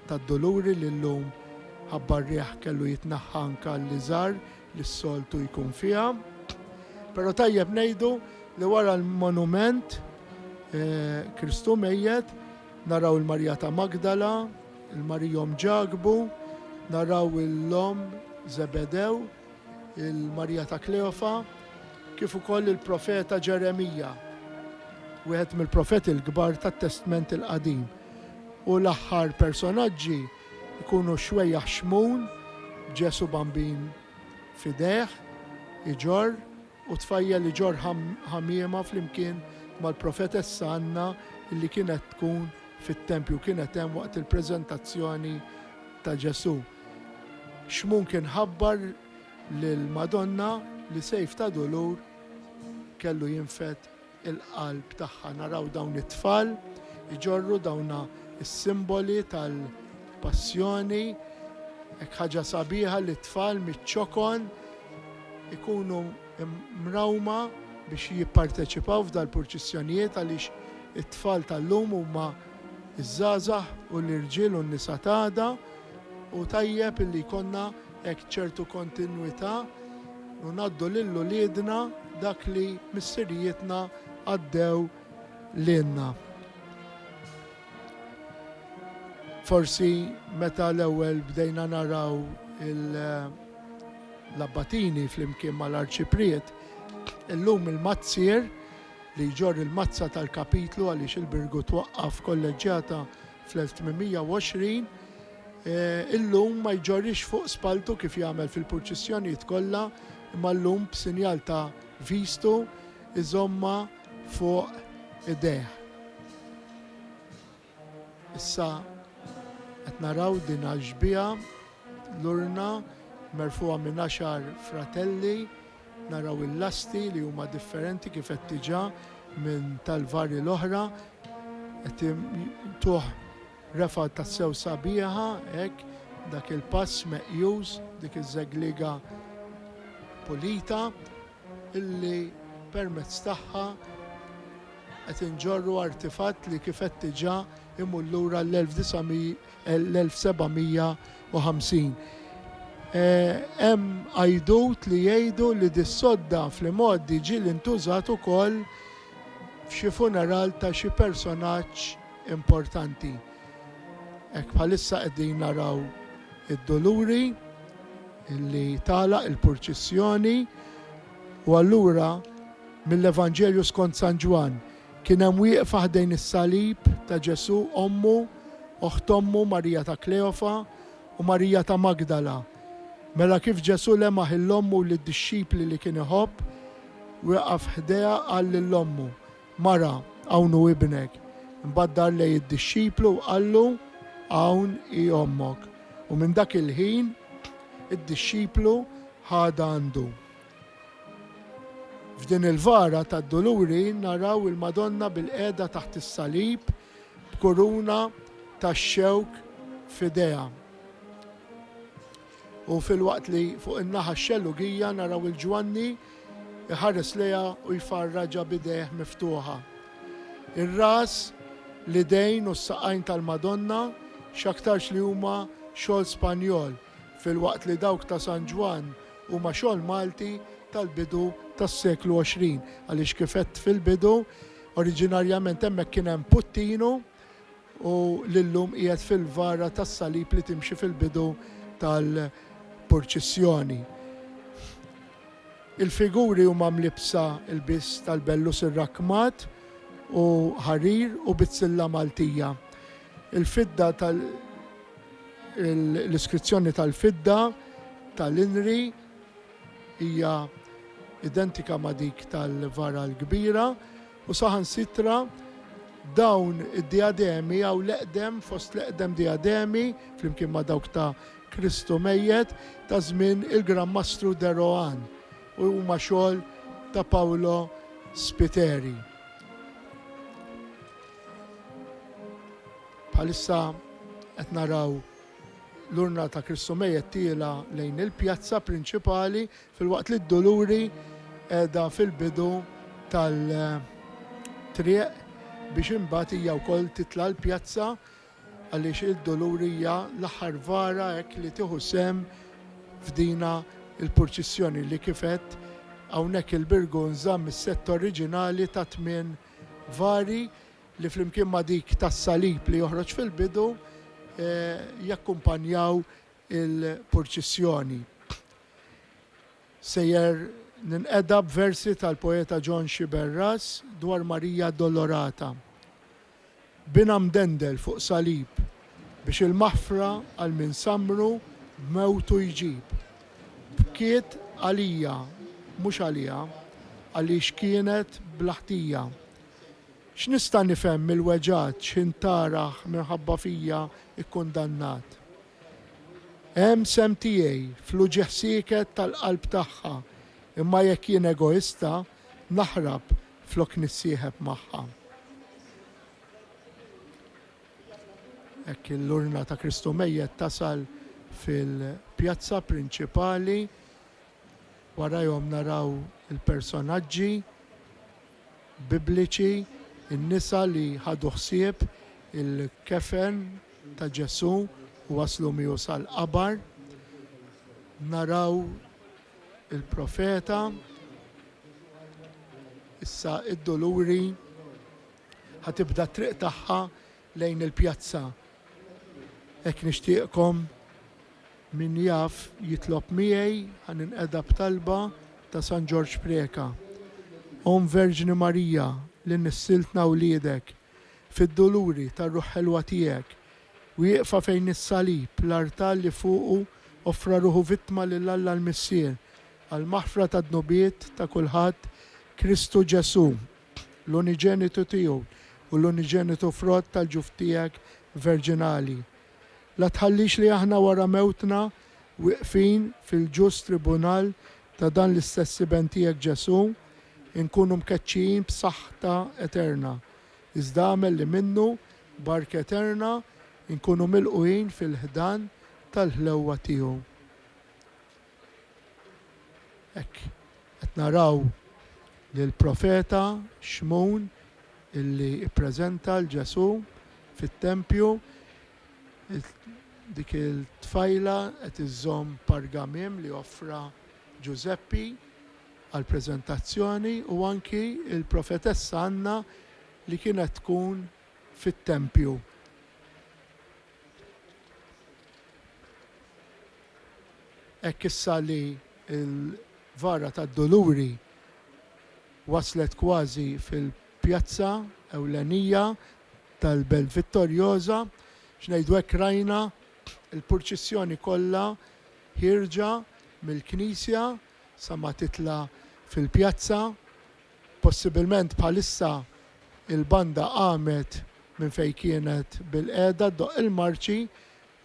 tad-Duluri li llum ħabba r-riħ kellu jitneħħa anke għall-iżgħar li s-soltu jkun fiha. Però tajjeb ngħidu li wara l-monument Kristu mejjet naraw il-Marija ta' Magdala, il-Marija Omm Ġakbu, naraw l-Omm Żebedew, il-Marija ta' Kleofa, kif ukoll il-profeta Ġeremija, wieħed mill-profeti l-kbar tat-Testment il-Qadim. U l-aħħar personaġġi jkunu xwejjaħ xmun b'Ġesu Bambin f'idejh iġorr u tfajjel iġorr ħamiema flimkien mal-profetessa Anna li kienet tkun fit-tempju kienet hemm waqt il-preżentazzjoni ta' Ġesu. Xmun kien ħabbar lill-Madonna li sejf ta' dulur kellu jinfed il-qalb tagħha. Naraw dawn it-tfal iġorru dawna s-simboli tal-passjoni. Hekk ħaġa sabiħa li t-tfal miċ-ċokon ikunu mrawma biex jipparteċipaw f'dal-purċissjonijiet għaliex it-tfal tal-lum huma ż-żgħażagħ u l-irġiel u n-nisa t'għada. Hu tajjeb illi jkollna hekk ċertu kontinwità u ngħaddu lil uliedna dak li missirijietna għaddew lilna. Forsi meta l-ewwel bdejna naraw l-abbatini flimkien mal-arċipriet, illum il-mazzier li jġorr il-mazza tal-kapitlu għaliex il-birgu twaqqaf kolleġġjata fl-1820, illum ma jġorrix fuq spalltu kif jagħmel fil-purċissjonijiet kollha, imma llum b'sinjal ta' vistu jżommha fuq idejh. Issa qed naraw din għax-xbieha, l-urna merfugħa minn għaxar fratelli, naraw il-lasti li huma differenti kif għedt diġà minn tal-varji l-oħra, Qed tuh refgħa tassew sabiħa hekk dak il-pass meqjus, dik iż-żegliega pulita illi permezz tagħha qed inġorru artifatt li kif qed diġà imur lura l-1750. Hemm għajdut li jgħidu li dis-sodda fl-imgħoddi ġieli ntużat ukoll f'xi funeral ta' xi personaġġ importanti. Hekk bħalissa qegħdin naraw id-duluri li tagħlaq il-purċissjoni u allura mill-Evanġelju skont San Ġwann kien hemm wieqfa ħdejn is-salib ta' Ġesù ommu, oħt ommu Marija ta' Kleofa u Marija ta' Magdala. Mela kif Ġesù lemaħ 'il ommu u lid-dixxipli li kien iħobb, wieqaf ħdejha qal lil ommu, Mara, hawn hu ibnek. Imbagħad dar lejn id-dixxiplu u qallu, Hawn hi ommok. U minn dak il-ħin id-dixxiplu ħadha għandu. F'din il-vara tad-Duluri naraw il-Madonna bilqiegħda taħt is-salib, b'kuruna tax-xewk f'idejha. U filwaqt li fuq in-naħa x-xellugija naraw 'il Ġwanni jħares lejha u jfarraġha b'idejh miftuħa. Ir-ras, l-idejn u s-saqajn tal-Madonna x'aktarx li huma xogħol Spanjol filwaqt li dawk ta' San Ġwann huma xogħol Malti tal-bidu tas-seklu 20 għaliex kif għedt fil-bidu Oriġinarjament hemmhekk kien hemm puttinu u li llum qiegħed fil-vara tas-salib li timxi fil-bidu tal-purċissjoni. Il-figuri huma mlibbsa lbies tal-bellus irrakkmat u ħarir u bizzilla Maltija. Il-fidda tal l-iskrizzjoni tal-fidda tal-inri Hija identika ma' dik tal-vara l-kbira u saħansitra dawn id-dijademi hawn l-eqdem fost l-eqdem dijademi, flimkien ma' dawk ta' Kristu mejjet, ta' żmien il-Gran Mastru de Rohan u huma xogħol ta' Paolo Spiteri. Bħalissa qed naraw. L-urna ta' Kristu Mejjet tiela' lejn il-pjazza prinċipali filwaqt li d-Duluri qiegħda fil-bidu tal-triq biex imbagħad hija wkoll titla' l-pjazza għaliex id-Duluri hija l-aħħar vara hekk li tieħu sehem f'dina l-purċissjoni li kif għedt hawnhekk il-Birgu nżamm is-sett oriġinali ta' tmien vari li flimkien ma' dik tas-Salib li joħroġ fil-bidu, jakkumpanjaw il-purċissjoni. Sejjer ninqeda b'versi tal-poeta John Sciberras dwar Marija Addolorata, Binha mdendel fuq salib, biex il-maħfra għal min sammru b'mewtu jġib. Bkiet għalija, mhux għaliha, għaliex kienet bla ħtija. X'nista' nifhem mill-weġgħat x'ħin Tarah minħabba fija kkundannat? Hemm sehem tiegħi fl-uġigħ sieket tal-qalb tagħha, imma jekk jien egoista, naħrab flok nissieħeb magħha. Hekk l-urna ta' Kristu mejjet tasal fil-pjazza prinċipali, warajhom naraw il-personaġġi, Bibliċi, in-nisa li ħadu ħsieb il-kefen ta' Ġesù u waslu miegħu sal-qabar, naraw il-profeta, issa d-duluri, ħa tibda t-triq tagħha lejn il-pjazza hekk nixtieqkom min jaf jitlob miegħi ħa ninqeda b'talba ta' San Ġorġ Preca. Omm Verġni Marija li nissiltna wliedek fid-duluri tar-Ruħ Ħelwa tiegħek, wieqfa fejn is-salib, l-artal li fuqu offra ruħu vittma lil Alla l-Missier għall-maħfra tad-dnubiet ta' kulħadd Kristu Ġesù. l-uniġenitu tiegħu u l-uniġenitu frott tal-ġuf tiegħek verġinali. La tħallix li aħna wara mewtna, wieqfin fil-ġust tribunal ta' dan l-istess Iben tiegħek Ġesù, inkunu mkeċċijin b'saħħta eterna, iżda agħmel li minnu, b'ark eterna, inkunu milqugħin fil-ħdan tal-ħlewwa tiegħu. Hekk qed naraw lill-profeta Xmun illi ppreżenta 'l Ġesù fit-tempju. Dik it-tfajla qed iżżomm pargamim li offra Ġużeppi għall-preżentazzjoni u anki l-profetessa Anna li kienet tkun fit-tempju. Hekk issa li l-Vara tad-Duluri waslet kważi fil-pjazza ewlenija tal-Belt Vittorjoża, x'ngħidu hekk rajna l-purċissjoni kollha ħierġa mill-knisja sa ma titla' fil-pjazza Possibilment bħalissa il-banda qamet minn fejn kienet bilqiegħda ddoqq il-marċi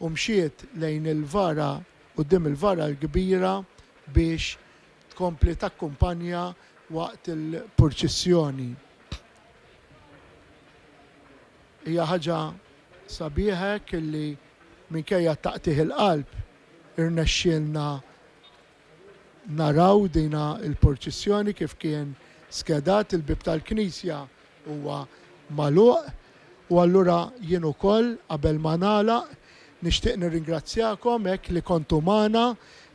u mxiet lejn il-vara quddiem il-vara l-kbira biex tkompli takkumpanja waqt il-purċissjoni. Hija ħaġa sabiħa hekk illi minkejja t-taqtigħ il-qalb irnexxielna Naraw dina l-purċissjoni kif kien skedat, il-bieb tal-knisja huwa magħluq u allura jien ukoll qabel ma nagħlaq nixtieq nirringrazzjakom hekk li kontu magħna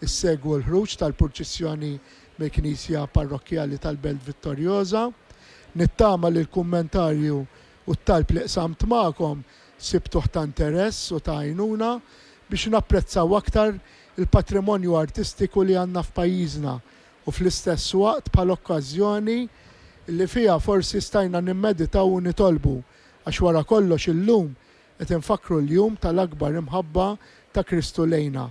ssegwu l-ħruġ tal-purċissjoni mill-knisja parrokkjali tal-Belt Vittoriosa. Nittama li l-kummentarju u t-talb li qsamt magħkom sibtuh ta' interess u ta' għajnuna biex napprezzaw aktar il-patrimonju artistiku li għandna f'pajjiżna u fl-istess waqt bħala okkażjoni li fiha forsi stajna nimmeditaw u nitolbu għax wara kollox illum qed infakkru l-jum tal-akbar imħabba ta' Kristu lejna.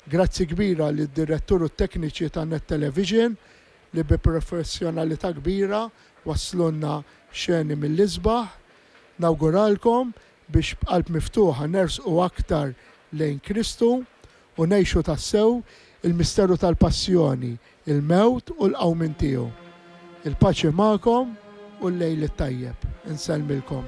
Grazzi kbira lid-Direttur u t-tekniċi ta' Net Television li bi professjonalità kbira wasslulna xeni mill-isbaħ. Nawguralkom biex b'qalb miftuħa nersqu aktar lejn Kristu u ngħixu tassew il-misteru tal-Passjoni, il-Mewt u l-Qawmien tiegħu. Il-paċi magħkom u l-lejl it-tajjeb. Insellmilkom.